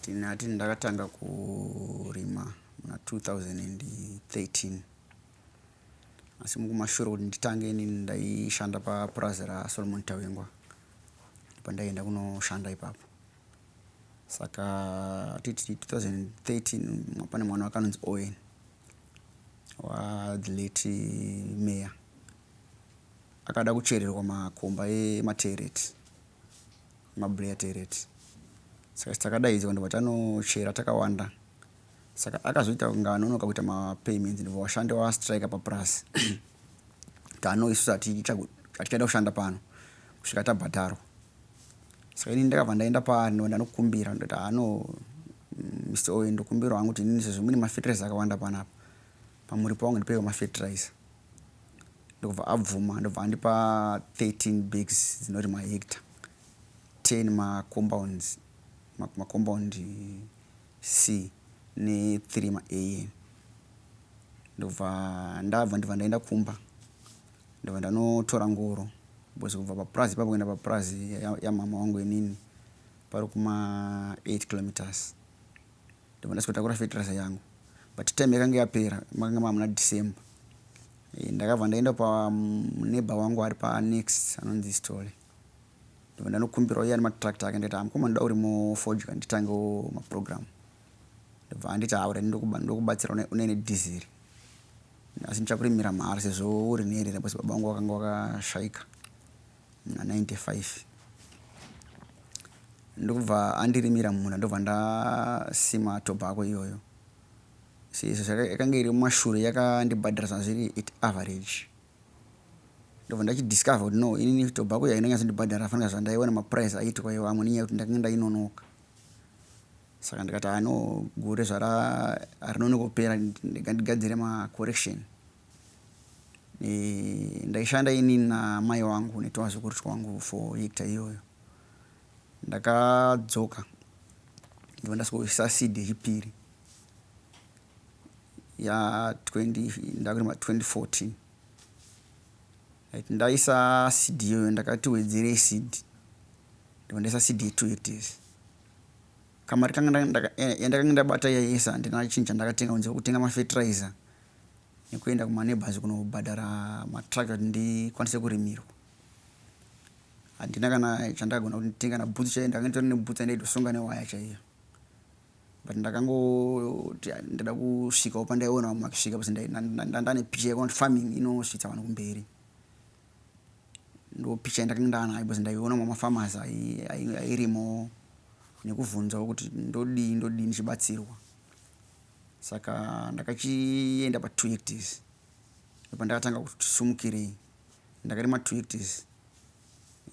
Tinati ndakatanga kurima muna 2013 asi mukumashure kuti nditange inini ndaishanda papurazi raSolomon Tawengwa pandaienda kunoshanda ipapo saka titi 2013 pane mwana wakanonzi Owen wathe late mayor akada kuchererwa makomba ematereti mabreya tereti saka takadaidzwa ndobva tanochera takawanda saka akazoita kunge anonoka kuita mapayments ndobva washandi wastrike papurazi tano isusu hatichaenda kushanda pano kusvika tabhadharwa saka ini ndakabva ndaenda paari ndobva ndanokumbira ndoti hano mr oyo ndokumbirawo hangu kuti inini sezvo mune mafertilizer akawanda panapa pamuripo wangu ndipeiwo mafertilizer ndokubva abvuma ndobva andipa 13 bags dzinoti mahecta 10 macompounds macompound c ne3 maam ndobva ndabva ndibva ndaenda kumba ndobva ndanotora ngoro bcause kubva papurazi ipapo kuenda papurazi yamhama wangu inini pari kuma 8 kilometers Ndakwanisa kutakura fertilizer yangu but time yakange yapera makanga mava muna December. Eh, ndakabva ndaenda paneighbor wangu ari panext anonzi Sithole ndobva ndanokumbirawo iye ane matractor ake ndikaita mukoma ndoda uri mufodya nditangewo maprogram ndobva anditi haura ndokubatsira une nedhiziri asi ndichakurimira mahara sezvo uri nherera bcause baba wangu wakanga wakashaika 1995 ndokubva andirimira mumunda ndobva ndasima tobacco iyoyo seizvo yakange iri mumashure yakandibhadhara zvanzi zviri at average ndobva ndachidiscover kuti no inini tobacco yaina nyatsondibhadhara fanira zvandaiona maprice aitwa iwo amwe nenyaya yekuti ndakange ndainonoka saka ndikati ano gore zvara rinonoka kupera ndigandigadzire macorrection e, ndaishanda ini namai wangu netwazukuru twangu for hecta iyoyo ndakadzoka ndiva ndasikoisa seed yechipiri ya 20 ndakurima 2014 right ndaisa seed iyoyo ndakati wedzerei seed ndiva ndaisa seed ye2 hectares Kamari kanga yandakange ndabata yaiesa handina chinhu chandakatenga kunze kwekutenga mafertilizer nekuenda kumaneighbors kunobhadhara matruck kuti ndikwanise kurimirwa. Handina kana chandakagona kuti nditenga kana boots chaiyo ndakanga nditori neboots yandaitosonga newaya chaiyo. But ndakangoti ndada kusvikawo pandaiona vamwe vakisvika bcause ndandane picha yekuti farming inosvitsa vanhu kumberi. ndo picha yandakanga ndanayo because ndaiona mumafamasi airimo nekuvhunzawo kuti ndodii ndodii ndichibatsirwa saka ndakachienda patwo hectis ndopandakatanga kuti sumukirei ndakarima two hectis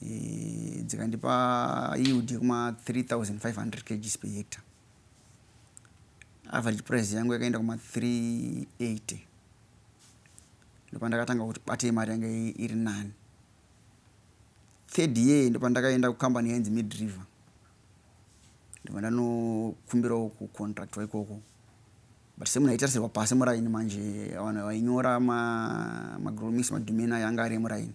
e, dzikandipa yield yekuma 3500 kgs per hectare average price yangu yakaenda kuma 380 ndopandakatanga kuti batei mari yanga iri nani third year ndopandakaenda kucompany yainzi midriver ndobva ndanokumbirawo kucontractwa ikoko but semunhu aitarisirwa pasi muraini manje vanhu vainyora magromis ma madomeni ayo anga ari emuraini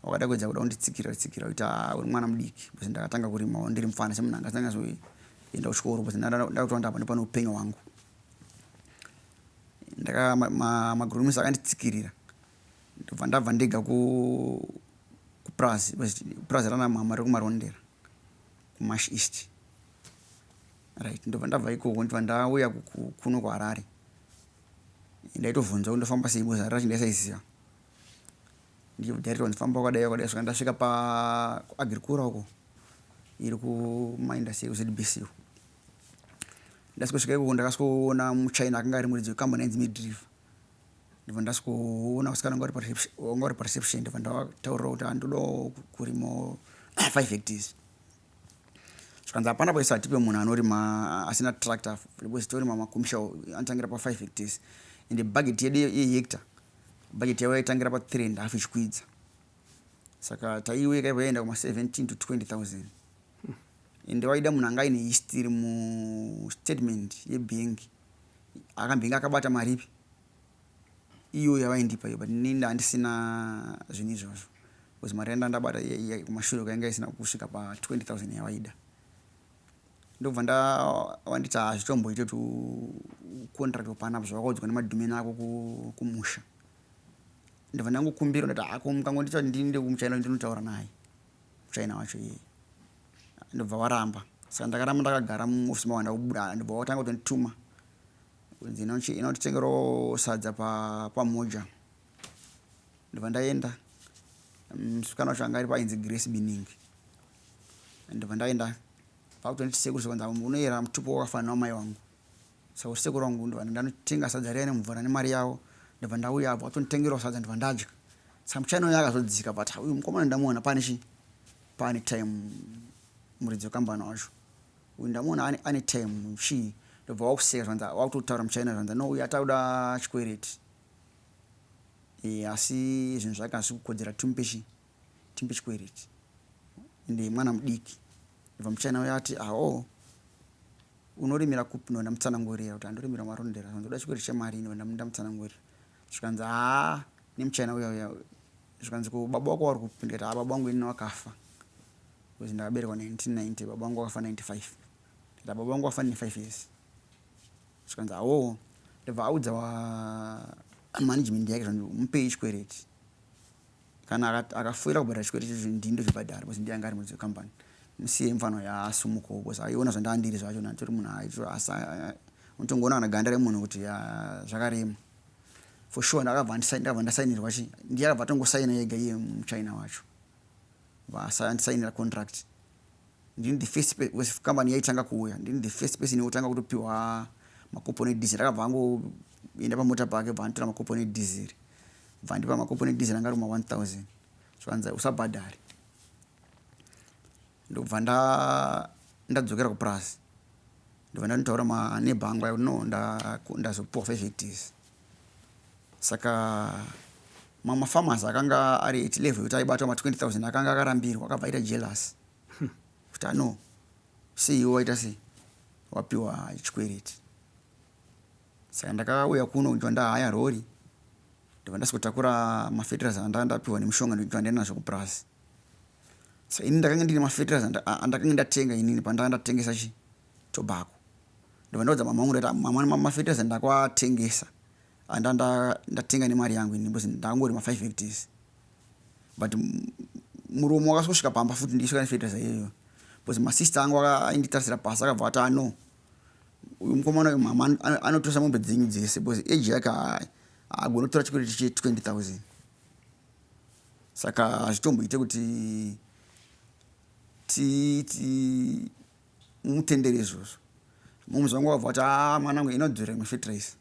wakada kuedza kuda kunditsikira tsikira kuti haa uri mwana mudiki bcause ndakatanga kurimawo ndiri mufana semunhu anga asinganyazoenda kuchikoro bcause ndakutowanda apa ndopane upenyu hwangu Ndaka ma, magromise akanditsikirira ndobva ndabva ndega ku kupurazi purazi rana mama rekumarondera kumash east right ndobva ndabva ikoko ndibva ndauya kuno kuharare ndaitobvunza kuti ndofamba sei boza racho ndaisaiziva ndichibudariwa ndifamba kwakadai kwakadai svika ndasvika paagirikura uko iri kumaindasi ekuzbc uko ndasvika ikoko ndakasvikoona muchina akanga ari muridzi wekambani ainzi midrive ndibva ndasvikoona usikana wanga uri pareception ndibva ndataurira kuti andoda kurimo five hectares zvikanzi hapana paisa hatipe munhu anorima asina tractor because torima makumisha anotangira pafive hectares ende budget yedu yehecta budget yavo yaitangira pathree and half ichikwidza saka taiwe yakaibva yaenda kuma 17 to 20000 ende waida munhu anga aine history mustatement yebhengi akambenge akabata mari ipi iyo yavaindipa iyo but ini ndandisina zvinhu izvozvo bcause mari yandandabata kumashure kwainga isina kusvika pa 20000 yavaida Ndokubva nda wanditi hazvitomboite tu contract hapana apa zvawakaudzwa nemadhume nako ku, kumusha ndobva ndangokumbirwa ndati hako mukangondita kuti ndiinde kumuchina ndinotaura naye muchina wacho iyeye ndobva waramba saka ndakaramba ndakagara muofisi mawanda kubuda ndobva watanga kutondituma kunzi inotitengerawo sadza pamoja pa ndobva ndaenda msikana wacho anga ari painzi grace biningi ndobva ndaenda vakutonditi sekuru zvakanzi unoyera mutupo wakafanana wamai wangu saka kuti sekuru wangu ndobva ndanotenga sadza riya nemvura nemari yavo ndobva ndauya abva atonditengerawo sadza ndobva ndadya saka muchina uya akazodzika but uyu mukomana ndamuona pane chii pane time muridzi wekambani wacho uyu ndamuona ane time chii ndobva wakuseka zvanza wakutotaura muchina zvanza no uyu atakuda chikwereti e, asi zvinhu zvake hazvikukodzera timupe chii chimbichikwereti ende mwana mudiki ndibva muchina uya ati awo unorimira kupi ndoenda mutsanangurira kuti andorimira marondera zvanzi uda chikwereti chemari ini enda munda mutsanangurira zvikanzi haa nemuchina uya uya zvikanzi ko baba wako wari kupi ndikati haa baba wangu ini wakafa bcause ndakaberekwa 1990 baba wangu wakafa 95 ndikati baba wangu wafa 95 years zvikanzi awo ndibva audza wa management yake zvanzi mupei chikwereti Kana akati akafoira kubhadhara chikwete chacho ndini ndozvibhadhara because ndiye anga ari muridzi wecompany. Musiye mfanwa yaa asumukewo because aiona zvandanga ndiri zvacho natory munhu aitira asi unotongoona kana ganda remunhu kuti yaa zvakarema. For sure ndakabva ndakabva ndasainirwa chi ndiye akabva atongosaina ega iye muchina wacho. Bva asandisainira contract. Ndini the first because company yaitanga kuuya ndini the first person yekutanga kutopiwa makuponi edizeri akabva angoenda pamota pake bva anditora makuponi edizeri. bva ndipa makopo nedizera anga ruma 1000 chivanza usabhadhare ndokubva nda ndadzokera kupurazi ndobva ndanotaura maneba angu aya kuti no ndazopiwa fezvetizi saka mamwe mafarmers akanga ari at level yekuti aibatwa ma 20 000 akanga akarambirwa akabva aita jealous kuti ano seiwo waita sei wapiwa chikwereti Saka ndakauya kuno kunzwa ndahaya rori ndobva ndazotakura mafetiraiza andanga ndapihwa nemushonga ndonzwa ndaenda nazvo kupurazi so ini ndakanga ndine mafetiraiza andakanga ndatenga inini pandanga ndatengesa chi tobacco ndobva ndaudza mama vangu ndati mama mafetiraiza ndakwatengesa andanga ndatenga nemari yangu ini because ndakangori mafive hectares but murume wakasosvika pamba futi ndichisvika nefetiraiza iyoyo because masista angu ainditarisira pasi akabva ati ano ah, Uyu mukomana uyu mama anotosa mombe dzenyu dzese because age yake haagoni kutora chikwere che 20000 saka hazvitomboite kuti titi mutendere izvozvo moms vangu vabva kuti a mwana angu inodzorera mafetrace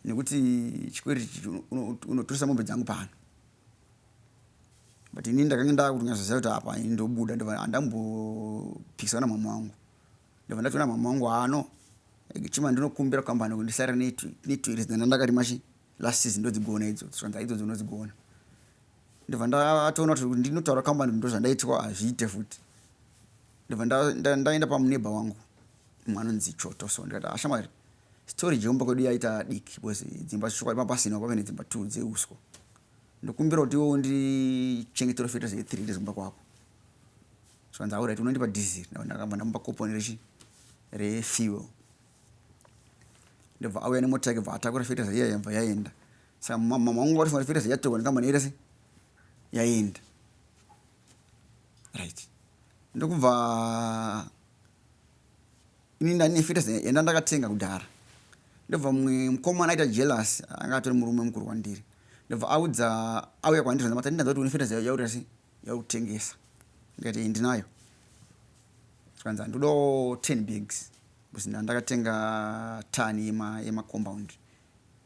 nekuti chikwere unotoresa mombe dzangu pano but ini ndakange ndakutonyasoziva kuti apa ndobuda ndova handambopikisana mama wangu ndobva ndatoona mama wangu ano chima ndinokumbira kukambani kuti ndisare netu iri zidana ndakarima chi last season ndodzigona idzo zvanza idzo dzinodzigona ndobva ndatoona kuti ndinotaura kambani kuti ndozvandaitwa hazviite futi ndobva ndaenda pamuneba wangu mwana onzi choto so ndikati ashamwari ah, story jeumba kwedu yaita diki because dzimba zvishokwadi mapasina kwave nedzimba two dzeuswa ndokumbira kuti iwo ndichengetero feta zve three ndezimba kwako zvanzi aurit unondipa diesel ndakabva ndamupa koponi rechi refuel ndobva auya nemota yake bva atakura fertilizer iya yabva yaenda saka mama wangu wati fertilizer yatorwa nekambani yaita se yaenda right ndokubva ini ndane fertilizer yanda ndakatenga kudhara ndobva mumwe mukomana aita jealous anga atori murume mukuru kwandiri ndobva audza auya kwandiri zvanzi matanindanza kuti une fertilizer yaurira se yautengesa ndikati iyi ndinayo zvikanzi handodawo 10 bags bcause ndandakatenga tani yema, yema compound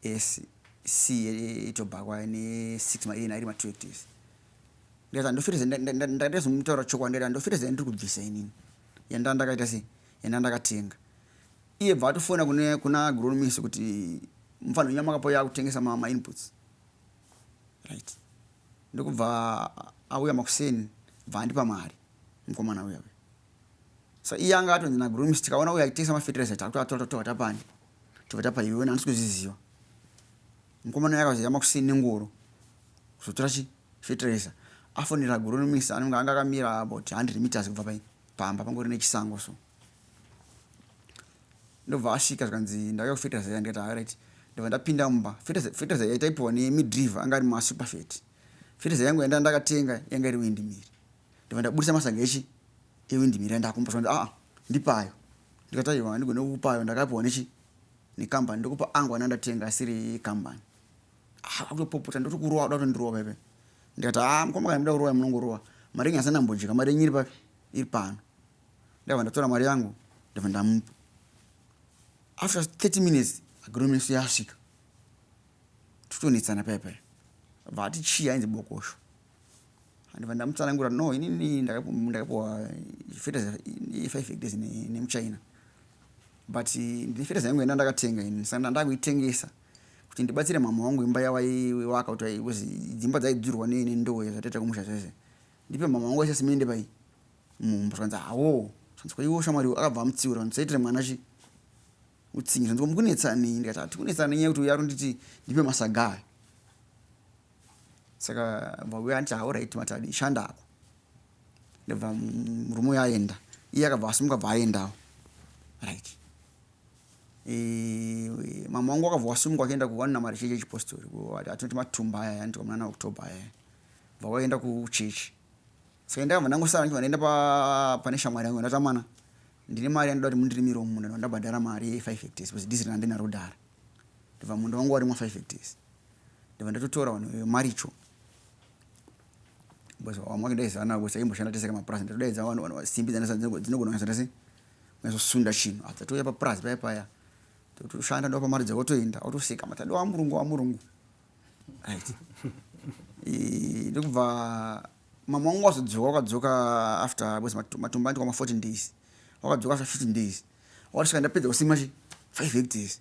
ese c etobhakwa ne6 maena iri ma2 hectares ndikati handofireze ndakatezomutaura chokwadi ndikati handofireze yandiri kubvisa inini yanda ndakaita sei yanda ndakatenga iye bva atofona kuna agronomist kuti mfanhonyama kapo yakutengesa mainputs right ndokubva auya makuseni bva andipa mari mukomana uya uya so iye anga atonzi nagrooms tikaona uya achitengesa mafetiraiza takutoatotoa tapani tobva tapa iwe handisi kuzviziva mukomana uya akazoya makuseni nengoro kuzotora chi fetiraiza afonera grooms anenge anga akamira about 100 meters kubva pai pamba pangori nechisango so ndobva asvika zvikanzi ndauya kufeteza yanga ita right ndobva ndapinda mumba feteza yaitaipiwa nemidriver anga ari masuperfet feteza yangu yanda ndakatenga yanga iri windmiri ndobva ndabudisa masaga echi ewindmiri yandakumba zvanzi aa ndipayo ndikati aiwa handigone kukupayo ndakapiwa nechi nekambani ndokupa angu ana ndatenga asiri kambani ah, akutopopota ndoti kurowa kuda kutondirova ive ndikati aa ah, mukoma kana muda kurowa munongorowa mari yenyu asina mbodya mari yenyu iri papi iri pano ndava ndatora mari yangu ndava ndamupa after 30 minutes agronomeso yasvika titonetsana paya paya bva ati chii ainzi bokosho andiva ndamutsanangura no inini ndakapuwa fertilizer ye5 hectares nemuchina but ndine fertilizer yangu yanda ndakatenga ini saka ndanda kuitengesa kuti ndibatsire mama wangu imba yavaiwaka kuti dzimba dzaidzurwa nendowo zvataita kumusha zvese ndipe mama wangu wese simende pai Umm zvanzi hawoo zvanzi ko iwo shamwari uyu akabva amutsiura zvanzi usaitire mwana chi utsinye zvanzi ko mukunetsa nei ndikati hatikunetsana nenyaya yekuti uyu aronditi ndipe masaga ayo saka bva uya anditi hauraiti matadi shanda ako ndabva murume uyo aenda iye akabva asimuka bva aendawo right e, mama wangu akabva wasimuka akaenda kuwanina mari chechi yechipostori atinoti matumba aya andiwa munana october aya bva waenda kuchechi Saka ndakabva ndangosara ndichibva ndaenda pa pane shamwari yangu ndati amana ndine mari yandoda kuti mundirimirewo munda ndibva ndabhadhara mari ye 5 hectares because diziri randinaro dhara ndibva munda wangu warimwa 5 hectares ndibva ndatotora vanhu vemaricho because vamwe vake ndaizana navo kuti taimboshanda tese kamapurazi ndatodaidza vanhu vanhu simbi dzinogona kunyatsa tese kunyasosunda chinhu after touya papurazi paya paya totoshanda ndopa mari dzavo toenda otoseka matadi wamurungu wamurungu right ndokubva Mama wangu wazodzoka wakadzoka after was matumba anti wama 14 days. Wakadzoka after 15 days. Wakasvika ndapedza kusima chi 5 hectares.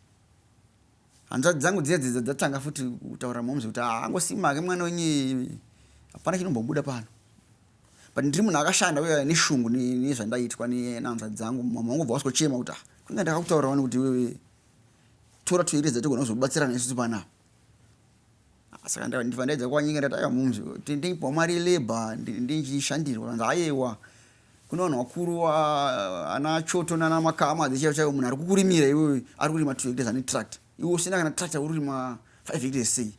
Hanzvadzi dzangu dziya dzidza dzatanga futi kutaura momzi kuti ah, angosima ake mwana wenye hapana chinombobuda pano. But ndiri munhu akashanda uye neshungu nezvandaitwa nehanzvadzi dzangu. Mama wangu bva waskochema kuti ah, kunge ndakakutaurawo nekuti wewe tora toereza tigonozobatsirana isu panapa. saka ndibva ndaedza kuvanyengera kuti aiwa mums tendei pamari yelabour ndichishandirwa kanzi ayewa kune vanhu vakuru ana choto nana makama dzechaivo chaivo munhu ari kukurimira iwewe ari kurima two hectares ane tract iwe usina kana tract akurima five hectares sei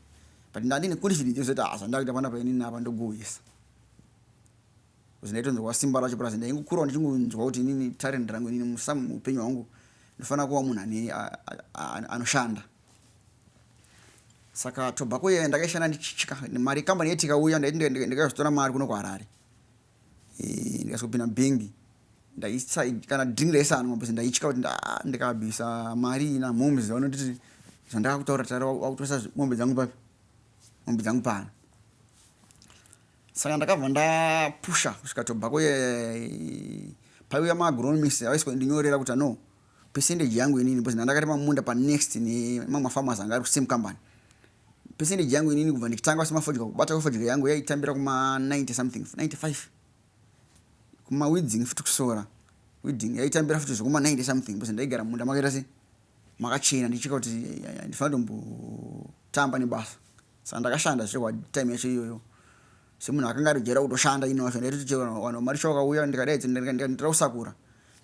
but ndandine confidence yekuzoita hasa ndakuita panapa inini apa ndogoyesa kuzi ndaitonzwa simba racho plus ndaingokurawo ndichingonzwa kuti inini talent rangu inini musamu muupenyu hwangu ndofanira kuva munhu ane anoshanda saka tobacco yeye ndakaishanda ndichitya mari kambani yetika uya ndikaizotora mari kuno kuharare ndikazopinda bhingi kana drink raisanwa bcause ndaitya kuti ndikabisa mari ina moms vanonditi zvandakakutaura tara wakutoresa mombe dzangu papi mombe dzangu pano saka ndakabva ndapusha kusvika tobacco ye paiuya maagronomist avaiswa ndinyorera kuti ano percentage yangu inini because ndandakati mamunda pa next nemamwe farmers anga ari kusame company percentage yangu inini kubva ndikitanga kusima fodya kubata kwefodya yangu yaitambira kuma 90 something 95 kuma weeding futi kusora weeding yaitambira futi zvekuma 90 something because ndaigara munda makaita se makachena ndichika kuti ndifana tombotamba nebasa Saka ndakashanda zve what time yacho iyoyo semunhu akanga ari jera kutoshanda ino wacho ndaitoti chero wanhu mari sho wakauya ndikadaidza ndikandira kusakura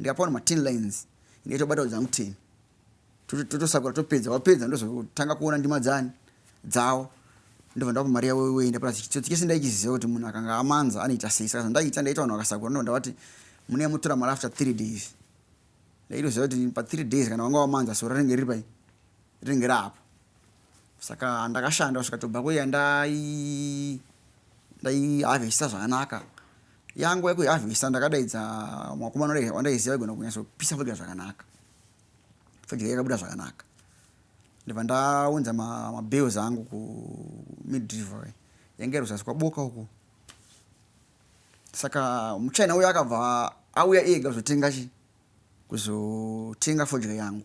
ndikapiwa nema tin lines ndaitobatawo dzangu ten totosakura topedza wapedza ndozotanga kuona ndima dzani dzawo ndobva ndapa mari yavo iwei ndapara chitsotsi chese ndaichiziva kuti munhu akanga amanza anoita sei saka zvandaita ndaita vanhu vakasakura ndobva ndavati mune mutora mari after three days ndaitoziva kuti pa three days kana wanga wamanza so rinenge riri pai rinenge raapo saka ndakashanda kusvika tobva kuya ndai ndaihavhesisa zvakanaka yangu yekuhavhesisa ndakadaidza mwakomana wandaiziva igona kunyatsopisa fodya zvakanaka fodya yakabuda zvakanaka ndibva ndaunza mabills angu kumidriver yange ruzasi kwaboka uku saka muchina uyo akabva auya ega kuzotenga chi kuzotenga fodya yangu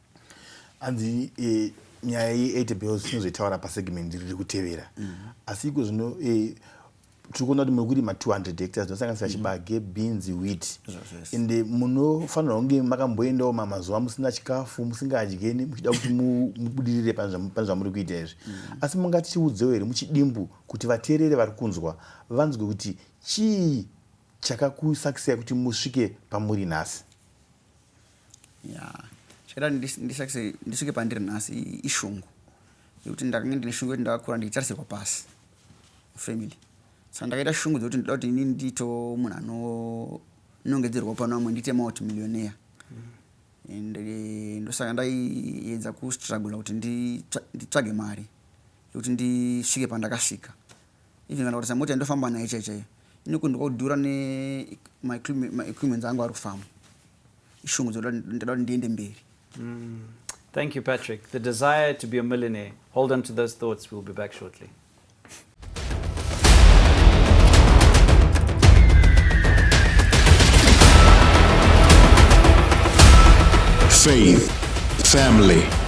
hanzi eh, nyaya ye80 bills tinozoitaura pasegment riri kutevera mm. asi iko zvino eh, tiri kuona kuti mekurima 200 hectares dzinosanganisira mm. chibage beans wheat ende eh, munofanirwa kunge makamboendawo mamazuva musina chikafu musingadyeni muchida kuti mubudirire pane zvamuri kuita izvi mm. asi mungatichiudzewo here muchidimbu kuti vateerere vari kunzwa vanzwe kuti chii chakakusakisai kuti musvike pamuri nhasi yeah chikada ndisakise ndisvike pandiri nhasi ishungu yekuti ndakange ndine shungu yekuti ndakakura ndichitarisirwa pasi family saka ndakaita shungu dzekuti ndoda kuti ini ndiito munhu anonongedzerwa pano vamwe ndiite maut millionaire and eh, ndosaka ndaiedza kustrugula kuti nditsvage mari yekuti ndisvike pandakasvika even kana kutarisa mota yandofamba nayo chaiyo chaiyo inokundwa kudhura ne my equipments angu ari kufamba ishungu dzoda kuti ndiende mberi mm. thank you patrick the desire to be a millionaire hold on to those thoughts we'll be back shortly faith family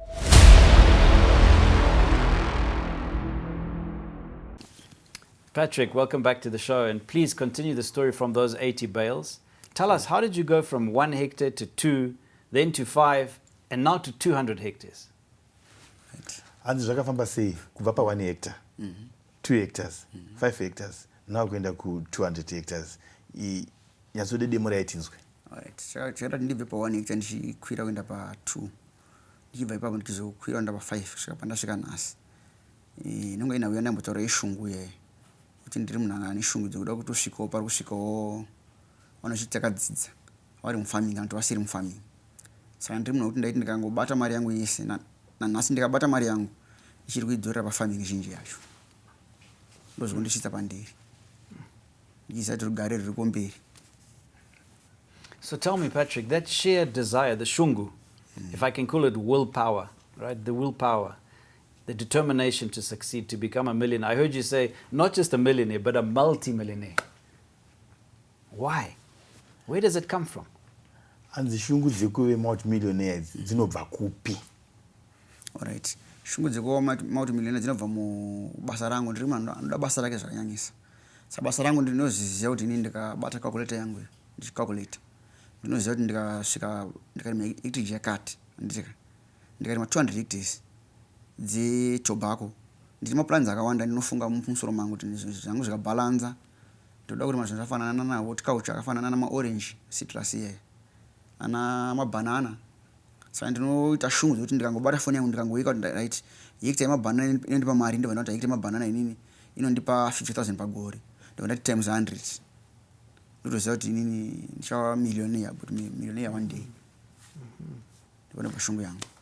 Patrick, welcome back to the show, and please continue the story from those 80 bales. Tell us, how did you go from one hectare to two, then to five, and now to 200 hectares? hanzi zvakafamba sei kubva pa 1 hectare 2 mhm. hectares 5 mhm. hectares now kuenda ku 200 hectares nyatsode demo raitinzwe chero ndibve pa 1 hectare ndichikwira kuenda pa 2 ndichibva ipapo ndichizokwira ndava 5 kusvika pandasvika nhasi eh, inonge ina uya ndaimbotaura yeshungu ye kuti ndiri munhu anga ane shungu dzekuda kuti usvikewo pari kusvikawo vanochiti takadzidza vari mufarming kana kuti vasiri mufarming saka ndiri munhu wekuti ndaiti ndikangobata mari yangu yese nanhasi ndikabata mari yangu ndichiri kuidzorera pafarming zhinji yacho ndozvekundisvitsa pandiri Ndisati rugare ruriko mberi. So tell me, Patrick, that sheer desire, the shungu, mm. if I can call it willpower, right? The willpower, the determination to succeed, to become a millionaire. I heard you say, not just a millionaire, but a multi-millionaire. Why? Where does it come from? And the shungu dzekuve multi-millionaire dzinobva kupi? Alright. Shungu dzekuva multimillionaire dzinobva mubasa rangu. Ndiri munhu anoda basa rake zvakanyanyisa. Saka basa rangu ndinozviziva kuti ini ndikabata calculator yangu iyo ndichicalculator. Ndinoziva kuti ndikasvika ndikarima hectage yakati handiteka. Ndikarima 200 hectares dzetobacco. Ndine maplans akawanda ndinofunga mumusoro mangu kuti zvangu zvikabalanza ndoda kurima zvinhu zvakafanana nahotculture akafanana namaorange citrus iyeyo. Ana mabanana saka ndinoita shungu dzekuti ndikangobata foni yangu ndikangoika kuti right hekita yemabanana inondipa mari ndobva ndati hekita yemabanana inini inondipa 50000 pagore ndobva ndati times 100 ndotoziva kuti inini ndichava millionaire but millionaire one day ndobva ndobva shungu yangu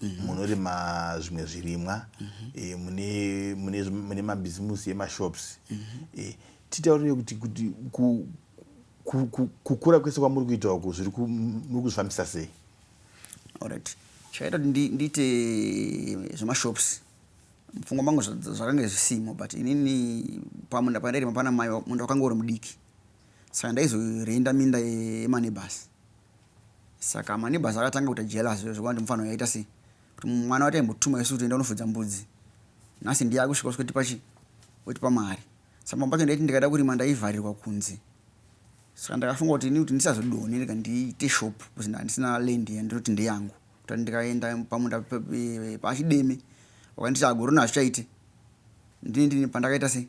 mm -hmm. munorima zvimwe zvirimwa mm -hmm. e, mune, mune, mune mabhizimusi emashops mm -hmm. e, titaurire kuti kuti ku, ku, ku, kukura kwese kwamuri kuita uku zviri muri kuzvifambisa sei orit chakaita kuti ndiite zvemashops mupfungwa mangu zvakange zvisimo but inini pamunda pandairima pana mai munda wakanga uri mudiki saka ndaizorenda minda yemanebhasi Saka maneighbors akatanga kuita jealous zve zvekuti mufana uyu aita sei kuti mwana wake aimbotuma isu kuti enda unofudza mbudzi nhasi ndiye akusvika usikotipa chi otipa mari saka pamwe pacho ndaiti ndikada kurima ndaivharirwa kunze saka ndakafunga kuti ini kuti ndisazodone ndika ndiite shop bcause ndandisina land yandinoti ndeyangu kuti ndikaenda pamunda pachideme wakanditi agorona hazvichaite ndini ndini pandakaita sei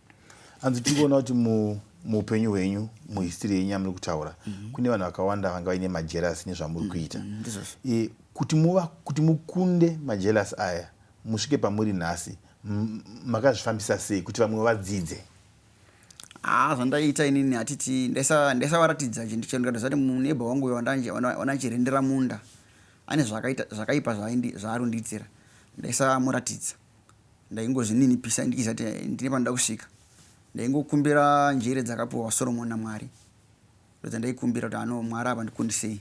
hanzi tiri kuona kuti muupenyu hwenyu muhistiri yenyu yamuri kutaura mhm. kune vanhu vakawanda vanga vaine majerasi nezvamuri mhm. kuita mhm. kuti muva kuti mukunde majerasi aya musvike pamuri nhasi makazvifambisa sei kuti vamwe vadzidze haa ah, zvandaiita inini hatiti ndaisavaratidza chinhu chenu kana zvati muneba wangu uyo wandachirendera munda ane zvakaipa zvaarundiitira ndaisamuratidza Ndaingozvininipisa ndichiziva kuti ndine pandoda kusvika. Ndaingokumbira njere dzakapiwa Soromoni naMwari ndodzandaikumbira kuti ano Mwari apa ndikundisei.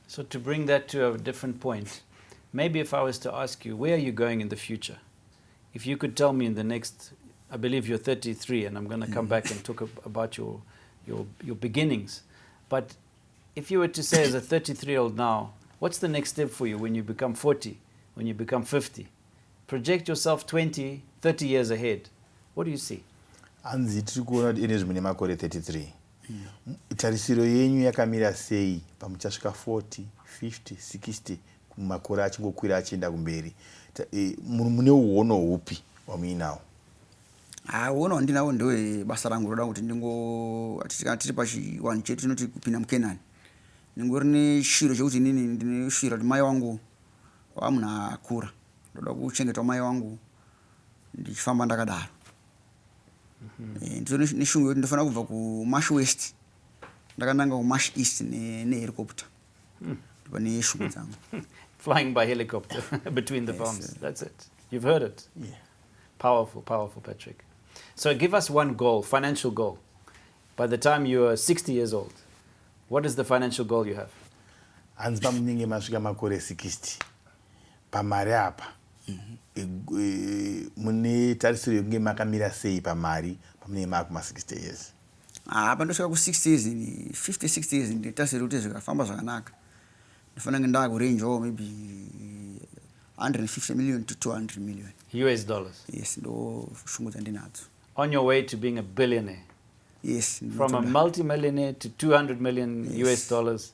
So to bring that to a different point, maybe if I was to ask you, where are you going in the future? If you could tell me in the next, I believe you're 33, and I'm going to come mm. back and talk about your, your, your beginnings. But If you were to say as a 33 year old now, what's the next step for you when you become 40, when you become 50? Project yourself 20, 30 years ahead. What do you see? hanzi tiri kuona kuti ene zvimine makore 33 mm. tarisiro yenyu yakamira sei pamuchasvika 40 50 60 makore achingokwira achienda kumberi e, mune uono hupi wamuinawo Haa uona wandinawo ndewe basa rangu roda kuti ndingo kana tiri pachiwanhu chedu tinoti kupinda mukenani ndingori neshwiro chekuti inini ndine shwiro kuti mai wangu wamunhu akura ndoda kuchengetwa mai wangu ndichifamba ndakadaro mhm. eh, ndito neshungu yekuti ndofanira kubva kumash west ndakananga kumash east nehelicopter ne Pane shungu dzangu. Flying by helicopter between the yes, bombs. Sir. That's it. You've heard it. Yeah. Powerful, powerful, Patrick. So give us one goal, financial goal. By the time you are 60 years old, what is the financial goal you have? hanzi pamunenge masvika makore 60 pamari apa mhm. e, e, mune tarisiro yekunge makamira sei pamari pamunenge maakuma 60 years Haa pandosvika ku 60 years ini 50 60 years nditarisira kuti zvikafamba zvakanaka ndofana kunge ndava kurenjawo maybe 150 million to 200 million us dollars yes ndo shungu dzandinadzo on your way to being a billionaire yes from a multimillionaire to 200 million yes. us dollars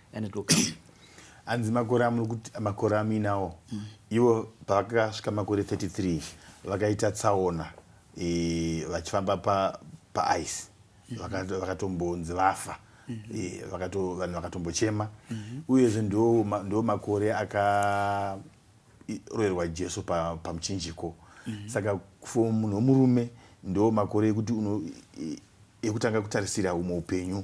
and it will come hanzi makore amuri kuti makore amuinawo mm. ivo pavakasvika makore 33 vakaita tsaona e, vachifamba paice mm. vakatombonzi vafa mm. e, vanhu vakatombochema mm-hmm. uyezve ndo makore akaroerwa jesu pamuchinjiko pa mm-hmm. saka for munhu wemurume ndo makore ekuti ekutanga kutarisira umwe upenyu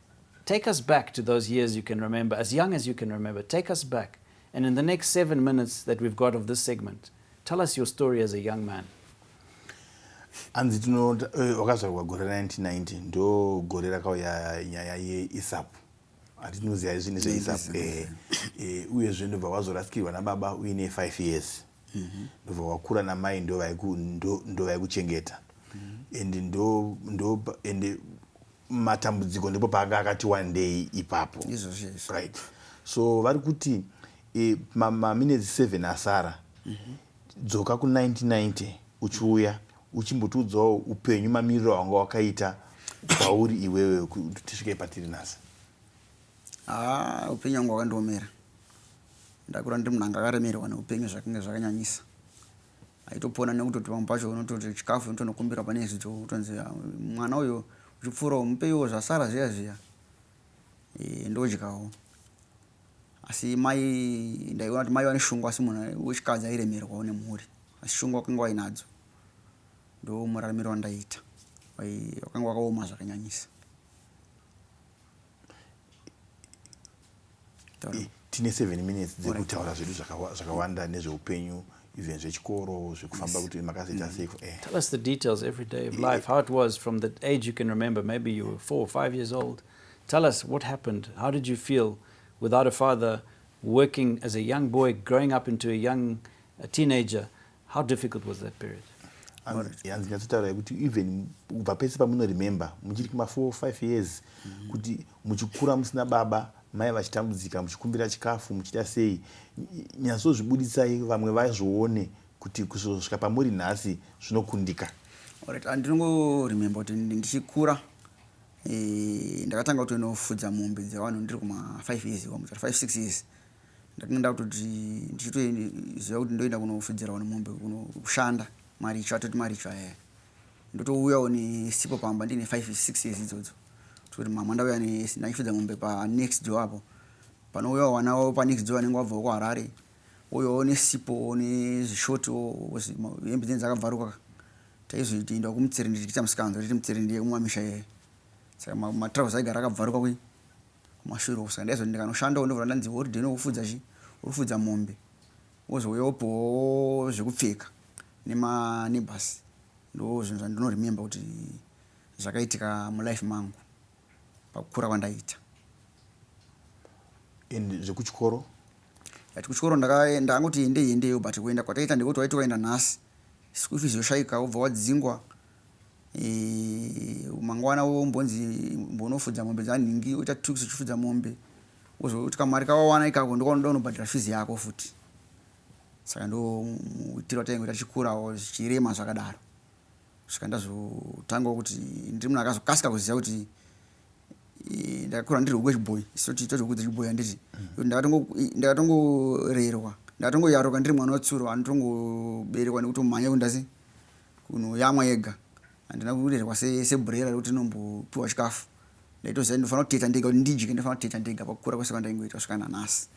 Take us back to those years you can remember, as young as you can remember. Take us back. And in the next seven minutes that we've got of this segment, tell us your story as a young man. hanzi tino eh, wakazvarwa gore 1990 ndo gore rakauya nyaya yeisapu hatinoziva izvi nezveisapu eh, eh, uyezve ndobva wazorasikirwa nababa uine five years mhm. ndobva wakura namai ndovaikuchengeta mhm. and ndo and matambudziko ndipo paanga akati wandei ipapo right so vari kuti e, maminetsi ma 7 asara mm -hmm. dzoka ku1990 uchiuya uchimbotiudzawo upenyu mamiriro awanga wakaita kwauri iwewe kuti tisvike patiri nhasi haa ah, upenyu wangu wakandiomera ndakura ndiri munhu anga akaremerwa neupenyu zvakange zvakanyanyisa Aitopona nekutoti pamwe pacho unototi chikafu unotonokumbirwa pane zvidzo kutonzi ah, mwana uyo uchipfuurawo mupeiwo zvasara zviya zviya e, ndodyawo asi mai ndaiona kuti mai vane shungu asi munhu wechikadzi airemerwawo nemhuri asi shungu wakanga wainadzo ndo muraramiro wandaiita wakanga wakaoma zvakanyanyisa tine seven minutes dzekutaura zvedu zvakawanda nezveupenyu even zvechikoro zvekufamba kuti makazoita mm. seiko eh. tell us the details every day of life how it was from the age you can remember maybe you were four or five years old tell us what happened how did you feel without a father working as a young boy growing up into a young a teenager How difficult was that period? hanzi nyatsotaura yekuti even kubva pese pamunoremember muchiri kuma four five years mm-hmm. kuti muchikura musina baba mai vachitambudzika muchikumbira chikafu muchita sei nyatsozvibuditsai vamwe vazvione kuti kuzosvika pamuri nhasi zvinokundika orit andinongoremember kuti ndichikura eh, ndakatanga kutoinofudza mombe dzevanhu ndiri kuma five years iwa muchati five six years Ndakanga ndakutoti ndichitoziva kuti ndoenda kunofedzerawo nemombe kunoshanda maricho atoti maricho ayaya ndotouyawo nesipo pamba ndiine five six years idzodzo toti mama ndauya ndachifedza mombe panext door apo panouyawo vana vavo panext door vanenge vabvawo kuharare ouyawo nesipo nezvishoti hembe dzenyu dzakabvaruka taizoitoenda kumutsirindi tichiita musikanzwa titi mutsirindi yekumamisha yeye saka matrouse aigara akabvaruka kuyi kumashure uko saka ndaizoti ndikanoshandawo ndobva ndanzi holiday nokufudza chi urikufudza mombe wozouya wopiwawo zvekupfeka nemaneighbors ndozvinhu zvandinoremember kuti zvakaitika mulife mangu pakukura kwandaita and zvekuchikoro yati kuchikoro ndakaenda angoti endeyi endeyo but kuenda kwataita ndekuti waiti waenda nhasi school fees yoshaika wobva wadzingwa Eh, mangwana wombonzi mbonofudza mombe dzanhingi oita two weeks uchifudza mombe wozoti kamari kawawana ikako ndokaunoda unobhadhara fizi yako futi saka ndo muitiro wataingoita tichikurawo zvichirema zvakadaro svika ndazotangawo kuti ndiri munhu akazokasika kuziva kuti eh, ndakakura ndiri huku yechibhoyi soti toti huku dzechibhoyi handiti mm. ndakatongoreerwa ndakatongoyaruka ndiri mwana wetsuro anotongoberekwa nekuti umhanya kundasi kunoyamwa yega handina kurerwa sebhurera rekuti ndinombopiwa chikafu ndaitoziva kuti ndofanira kuteta ndega kuti ndidye ndofanira kuteta ndega pakukura kwese kwandaingoita kusvika nanhasi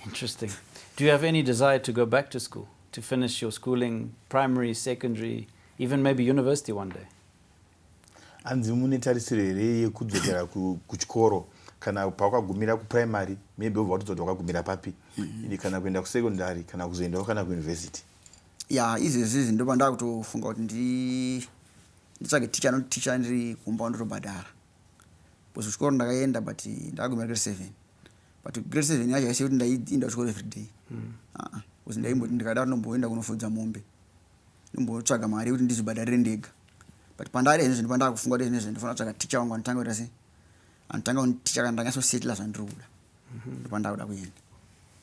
interesting do you have any desire to go back to school to finish your schooling primary secondary even maybe university one day hanzi mune tarisiro here yekudzokera kuchikoro kana pakwagumira kuprimary maybe obva watozoti wakagumira papi mm-hmm. kana kuenda kusecondary kana kuzoendawo kana kuuniversity ya izvezvi ndoba ndakutofunga kuti ndi nditsvage ticha anoti ticha ndiri kumba wandotobhadhara bcause kuchikoro ndakaenda but ndakagumira grade seven but grade seven yacho yaisiye kuti ndaiinda kuchikoro everyday mm. aa bcause ndaimboti ndikada kuti ndomboenda kunofudza mombe ndombotsvaga mari yekuti ndizvibhadharire ndega but pandari izvezvi ndoba ndakufunga kuti izvezvi ndofana kutsvaga ticha wangu anotanga kuita sei anotanga kunditicha kana ndanyasosetla zvandiri kuda mm-hmm. ndoba ndakuda kuenda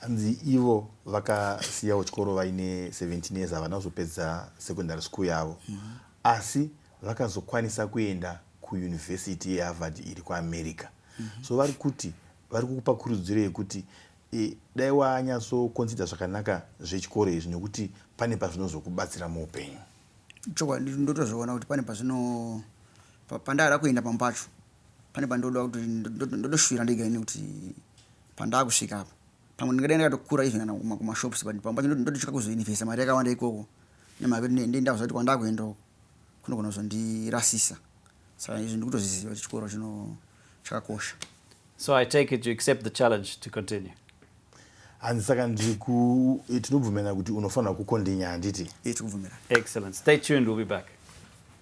Hanzi ivo vakasiyawo chikoro vaine 17 years havana kuzopedza secondary school yavo mm -hmm. asi vakazokwanisa kuenda kuyunivhesiti yeharvard iri kuamerica mm -hmm. so vari kuti vari kukupa kurudziro yekuti e, dai wanyatsokonsidha zvakanaka zvechikoro izvi nekuti pane pazvinozokubatsira muupenyu chokwadi ndotozviona kuti pane pazvino pandada kuenda pamwe pacho pane pandoda kuti ndotoshuvira ndega ini kuti Pandakusvika apa pamwe ndingadai ndakatokura even kana kuma kuma shops but pamwe pacho ndototya kuzoinvesta mari yakawanda ikoko nemhaka yekuti ndei ndava kuti kwandakuenda uko kunogona kuzondirasisa saka izvi ndikutozviziva kuti chikoro chino chakakosha so i take it you accept the challenge to continue hanzi saka ndiku eh, tinobvumirana kuti unofanira kukondinya handiti eh, excellent stay tuned we'll be back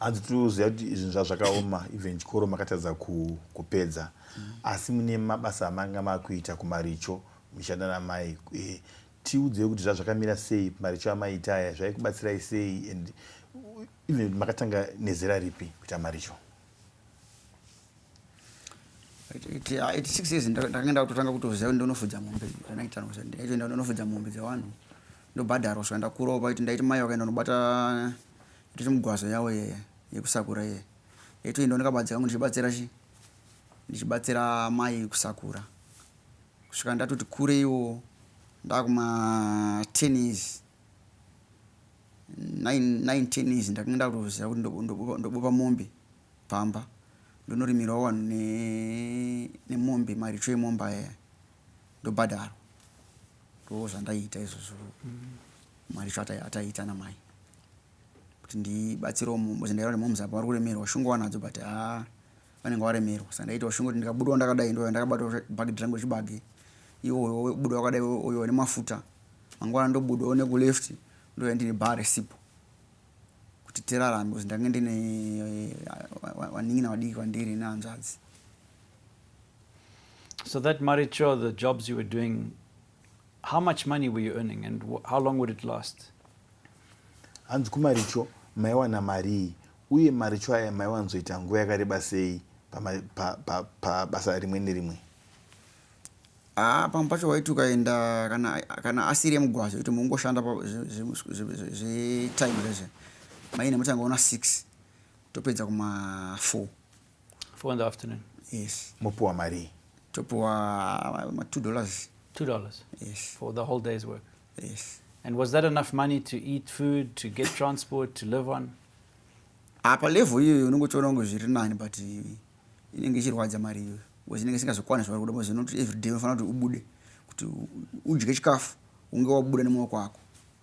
hanzi tiri kuziva kuti izvinhu zvazvakaoma even chikoro makatadza kupedza asi mune mabasa amanga makuita kumaricho muchishanda namai eh, tiudzei kuti zvazvakamira sei maricho amaita aya zvaikubatsirai sei and even makatanga nezera ripi kuita maricho iti six years ndakanga ndakutotanga kutoziva kuti ndonofudza mombe zvandaitandaitoenda ndonofudza mombe dzevanhu ndobhadharwa saka ndakurawo paiti ndaiti mai vakaenda unobata Ito chimugwaza yawo iye yekusakura iye. Ito ndo ndakabatsira ngo ndichibatsira chi ndichibatsira mai kusakura. Kusvika ndatoti kure iwo ndakuma 10 years. 9 9 10 years ndakange ndakutoziva kuti ndobopa ndobopa mombe pamba. Ndonorimirawo wanhu ne nemombe maricho emombe aya. ndobhadharwa ndozvandaiita izvozvo mwari cho ataiita namai kuti ndibatsirewo mom because ndaiona kuti moms apa vari kuremerwa shungu wanadzo but ha vanenge varemerwa saka ndaiitawo shungu kuti ndikabudawo ndakadai ndoya ndakabatawo bhagidhi rangu rechibage iwoyo buda wakadai oyo ane mafuta mangwana ndobudawo nekuleft ndoya ndine bhaa resipo kuti tirarame because ndange ndine eh, vanin'ina vadiki vandiri nehanzvadzi So that Maricho, the jobs you were doing, how much money were you earning and how long would it last? hanzi kumaricho maiwana marii uye maricho aya maiwanzoita nguva yakareba sei pabasa rimwe nerimwe ah, pamwe pacho waiti ukaenda kana asiri emugwazo kuti mungoshanda zvetime rezve maine mutanga ona six topedza kuma four four in the afternoon yes mopiwa marii topiwa ma two dollars two dollars yes for the whole day's work yes and was that enough money to eat food to get transport to live on apa ah, level iyoyo unongotoona kunge zviri nani but inenge ichirwadza mari iyoyo bcause inenge isingazokwana zvavari kuda bcause not every day unofanira kuti ubude kuti udye chikafu unge wabuda nemaoko ako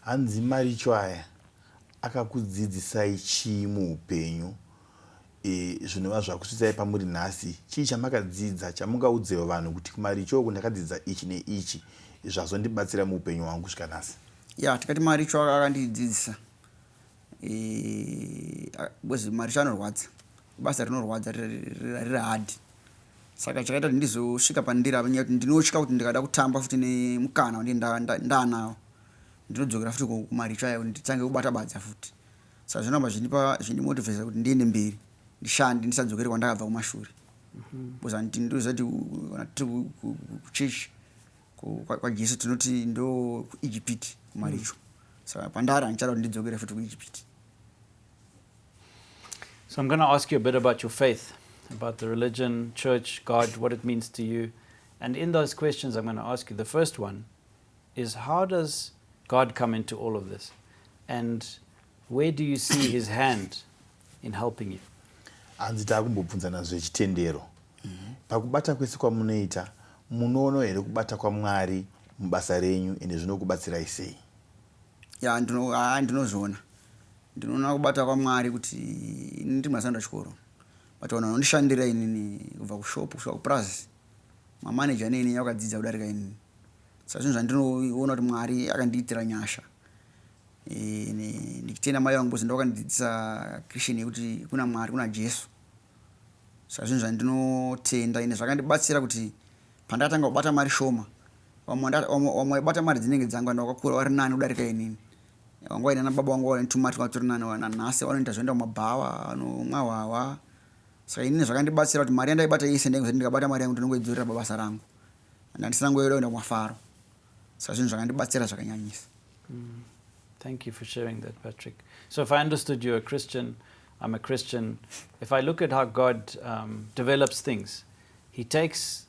Hanzi maricho aya akakudzidzisai chii muupenyu e, zvinova zvakusvitsai pamuri nhasi chii chamakadzidza chamungaudzewo vanhu kuti kumaricho uku ndakadzidza ichi neichi zvazondibatsira muupenyu hwangu kusvika nhasi ya tikati maricho akandidzidzisa e, maricho anorwadza Ibasa rinorwadza riri hard saka chakaita kuti ndizosvika pandiri apa nyaya kuti ndinotya kuti ndikada kutamba futi nemukana wandii ndaanawo ndinodzokera futi kumaricho aya kuti nditsange kubata badza futi saka zvinoramba zvindipa zvindimotivesa kuti ndiende mberi ndishande ndisadzokere kwandakabva kumashure mhm. because anditi ndoziva kuti uh, kana tiri kuchechi kwajesu tinoti ndo kuijipiti kumaricho mm. saka pandari handichada kuti ndidzokere futi kuijipiti So I'm going to ask you a bit about your faith, about the religion, church, God, what it means to you. And in those questions, I'm going to ask you the first one is how does God come into all of this? And where do you see his hand in helping you? hanzi taakumbobvunzana zvechitendero mm-hmm. pakubata kwese kwamunoita munoono here kubata kwamwari mubasa renyu ende zvinokubatsirai sei ya ndinozviona Ndinoona kubata kwaMwari kuti ini ndiri masanda chikoro but vanhu vanondishandira inini kubva kushop kusvika kupurazi mamanager neini vakadzidza kudarika inini saka zvinhu zvandinoona kuti Mwari akandiitira nyasha ene ndichitenda mai vangu bozi ndavakandidzidzisa Christian yekuti kuna Mwari kuna Jesu saka zvinhu zvandinotenda ine zvakandibatsira kuti pandakatanga kubata mari shoma vamwe vaibata mari dzinenge dzangu and vakakura vari nani kudarika inini Wangu wainana baba wangu waine tumatwa atori nani wana nhasi wanoita zvoenda kumabhawa anomwa hwahwa saka inini zvakandibatsira kuti mari yandaibata yese ndainge zvati ndikabata mari yangu ndinongoidzorera babasa rangu and handisina ngoyoda kuenda kumafaro saka zvinhu zvakandibatsira zvakanyanyisa mm. thank you for sharing that patrick so if i understood you a christian i'm a christian if i look at how god um, develops things he takes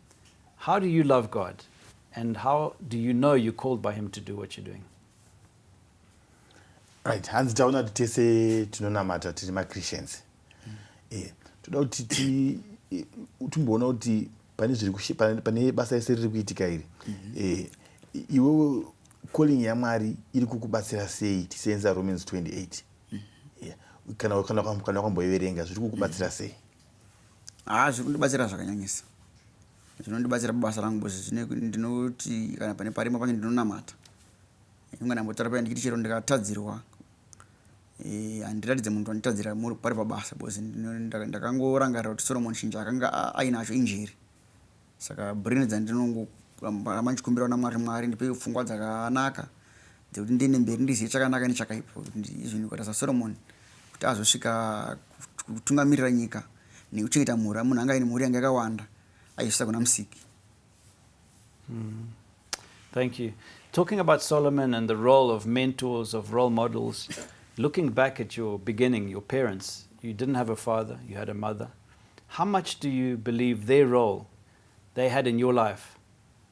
How do you love God and how do you know you're called by him to do what you're doing? Right, hanzi taona kuti tese tinonamata tiri machristians. Mm. Eh, toda kuti ti eh, timboona kuti pane zviri pane basa rese riri kuitika iri. Mm -hmm. Eh, iwewe calling yamwari iri kukubatsira sei tiseenza romans 28 mm-hmm. kana kana kwamboiverenga zviri kukubatsira mm-hmm. sei Haa zviri kundibatsira zvakanyanyisa. Zvinondibatsira pabasa rangu because zvine ndinoti kana pane parima pacho ndinonamata. Inga ndambotaura paya ndichiti chero ndikatadzirwa eh, handiratidze munhu wanditadzira pari pabasa because ndakangorangarira kuti Solomon Shinja akanga ainacho injeri. Saka brain dzandinongoramba ndichikumbira kuna Mwari, Mwari ndipeiwo pfungwa dzakanaka dzekuti ndiende mberi ndizive chakanaka nechakaipa kuti izvini kwata saSolomon kuti azosvika kutungamirira nyika nekuchengeta mhuri munhu anga aine mhuri yanga yakawanda aizvisa kuna musiki mm. Thank you. Talking about Solomon and the role of mentors, of role models, looking back at your beginning, your parents, you didn't have a father, you had a mother. How much do you believe their role they had in your life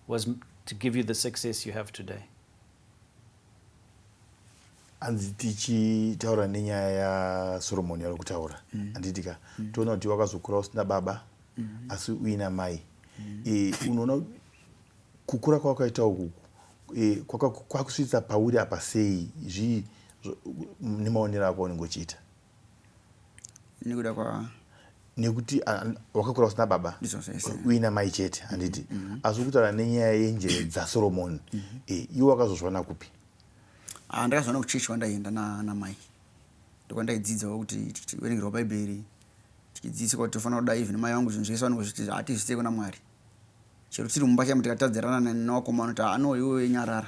was to give you the success you have today? hanzi tichitaura nenyaya yasoromoni yari kutaura mm. handitika mm. toona kuti wakazokura usina baba mm. asi uina mai e, unoona kukura kwawakaita ukuku e, kwakusvitsa pauri apa sei zvii nemaonero ako aunenge uchiita nekuda kwa nekuti wakakura usina baba uina mai chete handiti mm, mm, mm. asi ukutaura nenyaya yenjere dzasoromoni eh, iwe wakazozviona kupi ah, ndakazviona kuchechi kwandaienda namai ndokwandaidzidzawo kuti tichiverengerwa bhaibheri tichidzidziswa kuti tofanira kuda even mai vangu zvinhu zvese vanenge zviti hatizviite kuna mwari chero tiri mumba chaimu tikatadzirana newakomano kuti ano iwe nyarara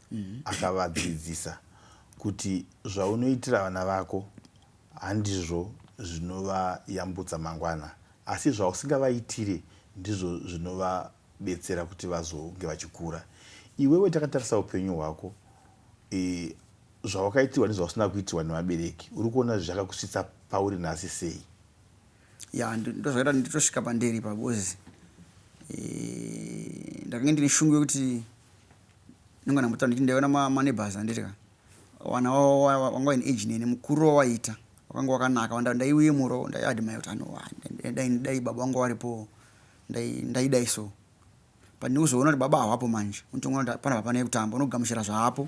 mm-hmm. akavadzidzisa kuti zvaunoitira vana vako handizvo zvinovayambutsa mangwana asi zvausingavaitire ndizvo zvinovabetsera kuti vazonge vachikura iwewe takatarisa upenyu hwako e, zvawakaitirwa nezvausina kuitirwa nevabereki uri kuona zvakakusvitsa pauri nhasi sei ya ndozvakaita nditosvika pandiri pabuzi e, ndakange ndine shungu yekuti Ndingona mutano kuti ndaiona ma, ma neighbors handiti ka. Wana wavo wa, wa, wanga waine age neni, mukuriro wawaita. Wakanga wakanaka, wanda ndaiyemurawo, ndaiadmire kuti ano wa, dai, dai, dai baba wanga waripowo, ndai, ndaidai so. But ndikuzoona kuti baba hawapo manje, unotongoona kuti hapana hapana yekutamba, unogamuchira zvaapo.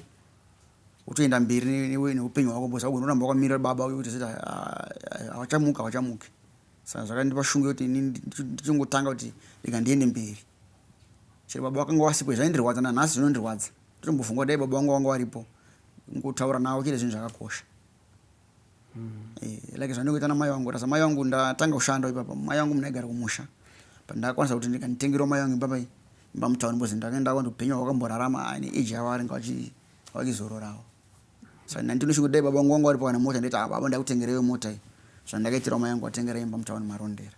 Utoenda mberi ne, ne, neupenyu hwako, because haugoni kuramba wakamirira baba uye kuti zita, ah, hawachamuki, hawachamuki. Saka zvakandipa shungu yekuti ini ndichi- ndichingotanga kuti rega ndiende mberi. Chero baba vakanga vasipo zvaindirwadza nanhasi zvinondirwadza ndotombofunga dai baba vangu vanga varipo ngotaura navo chete zvinhu zvakakosha mm. e, like zvandingoita namai vangu rasa mai vangu ndatanga kushanda ipapa mai vangu munaigara kumusha but ndakwanisa kuti ndikanditengerwa mai vangu ipapa imba mutown bcoz ndakaenda kwandi upenyu hwakamborarama ane age yavo varinga vachizororawo saka nani ndinoshingo dai baba vangu vanga varipo kana mota ndaita ah, baba ndakutengereyo mota iyi zvandakaitirwa mai vangu vatengera imba mutown marondera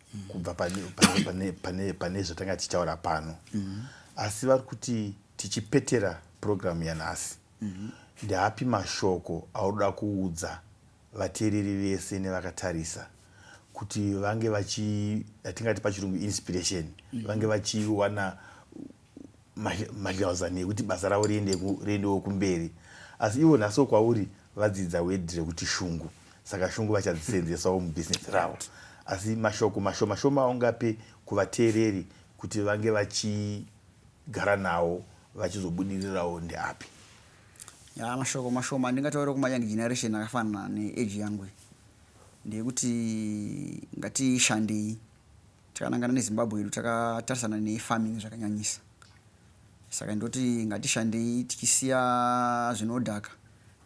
kubva pane zvatanga tichitaura pano mm-hmm. asi vari kuti tichipetera purogiramu yanhasi mm-hmm. ndeapi mashoko aunoda kuudza vateereri vese nevakatarisa kuti vange vachi atingati pachirungu inspiration mm-hmm. vange vachiwana mahlausan ekuti basa ravo riendewo kumberi asi ivo nhasi kwauri vadzidza wedhi rekuti shungu saka shungu vachadzisenzesawo mubhizinesi ravo asi mashoko mashomashoma aungape kuvateereri kuti vange vachigara nawo vachizobudirirawo ndeapi ya mashoko mashoma ndingataure kumayoung generation akafanana neage yangu ndeyekuti ngatishandei Takanangana neZimbabwe hedu takatarisana nefarming zvakanyanyisa saka ndoti ngatishandei tichisiya zvinodhaka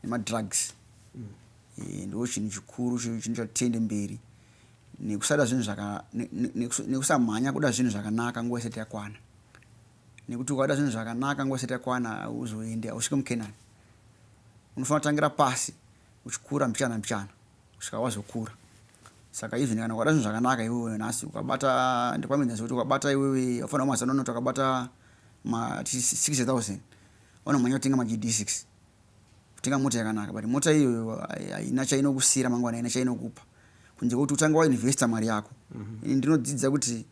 nemadrugs mm. e, ndo chinhu chikuru chinhu chatitende mberi nekusada zvinhu zvaka nekusamhanya kuda zvinhu zvakanaka nguva isati yakwana nekuti ukada zvinhu zvakanaka nguva isati yakwana hauzoende hausvike mukenani unofanira kutangira pasi uchikura mbichana mbichana kusvika wazokura saka even kana ukada zvinhu zvakanaka iwewe nhasi ukabata ndokwamedza zvekuti ukabata iwewe ufanira kumazana unoti wakabata ma 6000 unomhanya kutenga magd 6 kutenga mota yakanaka but mota iyoyo haina chainokusira mangwana haina chainokupa kunze kwekuti utanga wainvesta mari yako mm -hmm. ini ndinodzidza kuti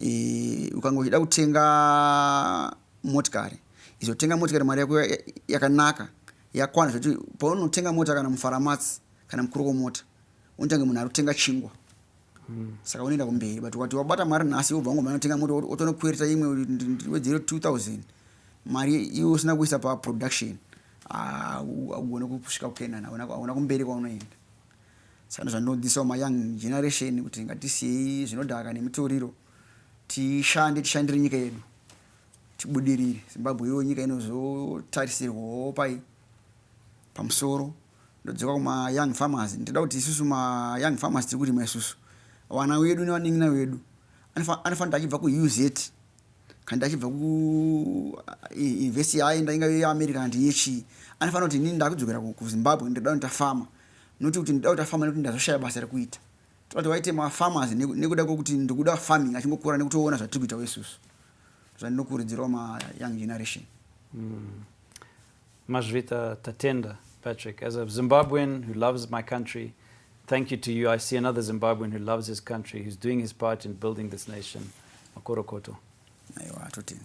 e, ukanga uchida kutenga motikari izotenga motikari mari yako yakanaka Yakwana zvekuti paunotenga mota kana mufaramatsi kana mukuru womota unotange munhu ari kutenga chingwa mm. saka unoenda kumberi but ukati wabata mari nhasi wobva wangomhanya unotenga mota otonokwereta imwe wedzero 2000 mari iwe usina kuisa paproduction augone kusvika kukenana auna kumberi kwaunoenda saka ndozvandinodzisawo mayoung generation kuti ngatisiyei zvinodhaka nemitoriro tishande tishandire nyika yedu Tibudirire Zimbabwe iyoyo nyika inozotarisirwawo pai pamusoro ndodzoka kuma young farmers ndoda kuti isusu ma young farmers tiri kurima isusu vana wedu nevanin'ina vedu anofanira achibva kuuz kandi achibva kuinvesti yaenda ingave yeamerica kandi yechii anofanira kuti inini ndakudzokera kuzimbabwe ndoda kuti tafama noti kuti ndoda kuti tafama nekuti ndazoshaya basa rekuita Tobva tawaite ma farmers nekuda kwekuti ndikuda farming achingokura nekutoona zvatiri kuita wesusu. Zvandinokurudzirawo ma young generation. Mm. Mazvita Tatenda Patrick, as a Zimbabwean who loves my country, thank you to you. I see another Zimbabwean who loves his country, who's doing his part in building this nation. Makorokoto. Aiwa, totenda.